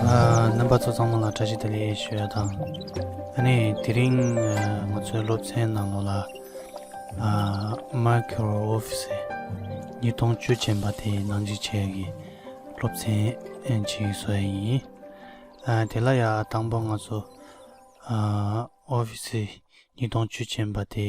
རྣམ་པ་ཚོ་ཚང་མ་ལ་བཀྲ་ཤིས་བདེ་ལེགས་ཞུས་དང་ཨ་ནི་དེ་རིང་ང་ཚོའི་སློབ་ཚན་ནང་ལོ་ལ་མར་ཁེ་རོ་ཨོ་ཕི་སི་ཉིས་སྟོང་བཅུ་ཅན་པ་དེ་ནང་འཇིག་བྱེད་ཀྱི་སློབ་ཚན་གཅིག་བཟོ་ཡ་ཡིན་དེ་ལ་ཡ་དང་པོ་ང་ཚོ་ཨོ་ཕི་སི་ཉིས་སྟོང་བཅུ་ཅན་པ་དེ་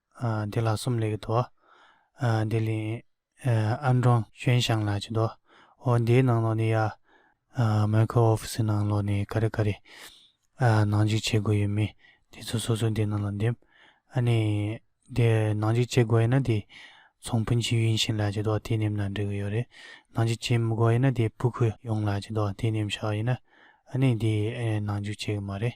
འདི་ལ་སོམ་ལེགས་དོ། འདི་ལན། ཨ་འབྲོང་ཆོན་ཞང་ལགས་ཀྱིས་དོ། འོ་འདིའི་ནང་ལོགས་ནས་ཡ། མོན་གྷོ་ཨོ་ཕི་སི་ནང་ལོགས་ནས་ག་རེ་ག་རེ། ནང་འཇུག་བྱེད་དགོས་ཡོད་མེད་དེ་ཚོ་སོ་སོ་འདི་ནང་ལ་འདེམས། ཨ་ནས། དེ་ནང་འཇུག་བྱེད་དགོས་ཡོད་ན་དེ། ཚོང་དཔོན་ཆིའུ་ཡུན་ཤིན་ལགས་ཀྱིས་དོ་དེ་འདེམས་ན་འགྲིག་གི་ཡོད་རེད། ནང་འཇུག་བྱེད་མི་དགོས་ཡོད་ན་དེ་པུ་ཁུ་ཡུང་ལགས་ཀྱིས་དོ་དེ་འདེམས་ཤག་ཡིན་ན། ཨ་ནས་དེ་ནང་འཇུག་བྱེད་གི་མ་རེད།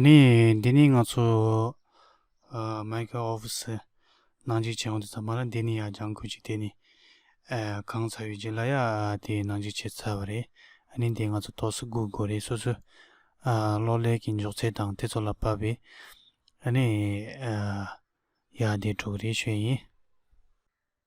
ནི་འདི་ནི་ང་ཚོ་མཱི་ཁེ་ཨོ་ཕི་སི་ནང་འཇིག་བྱེད་ཨོ་དེ་ཚ་མ་ར་འདི་ནི་ཡ་ལྗང་ཁུ་ཅིག་དེ་ནི་གང་ཚ་ཡོད་ཅིག་ལ་ཡ་དེ་ནང་འཇིག་བྱེད་ཚ་བ་རེད་ཨ་ནི་འདི་ང་ཚོ་ཏོག་སི་གུ་དགོ་རེད་སོ་སོའི་གློག་ཀླད་ཀྱི་མགྱོགས་ཚད་དང་དེ་ཚོ་ལ་བབས་པས་ཨ་ནི་ཡ་དེ་དྲུག་རེད་ཤོད་ཡིན།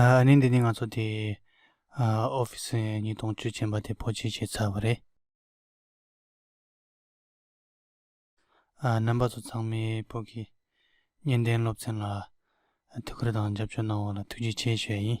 ཨ་ནི་འདི་ནི་ང་ཚོ་དེ་ཨོ་ཕི་སི་ནི་དོང་བཅུད་ཅན་པ་དེ་པོ་ཆེ་བྱས་ཚར་བ་རེད། རྣམ་པ་ཚོ་ཚང་མའི་པོ་གི་གཉེན་བསྟེན་སློབ་ཚན་ལ་ཐུགས་ཁུར་དང་རྒྱབ་སྐྱོར་གནང་བ་ལ་ཐུགས་རྗེ་ཆེ་ཞུ་ཡ་ཡིན།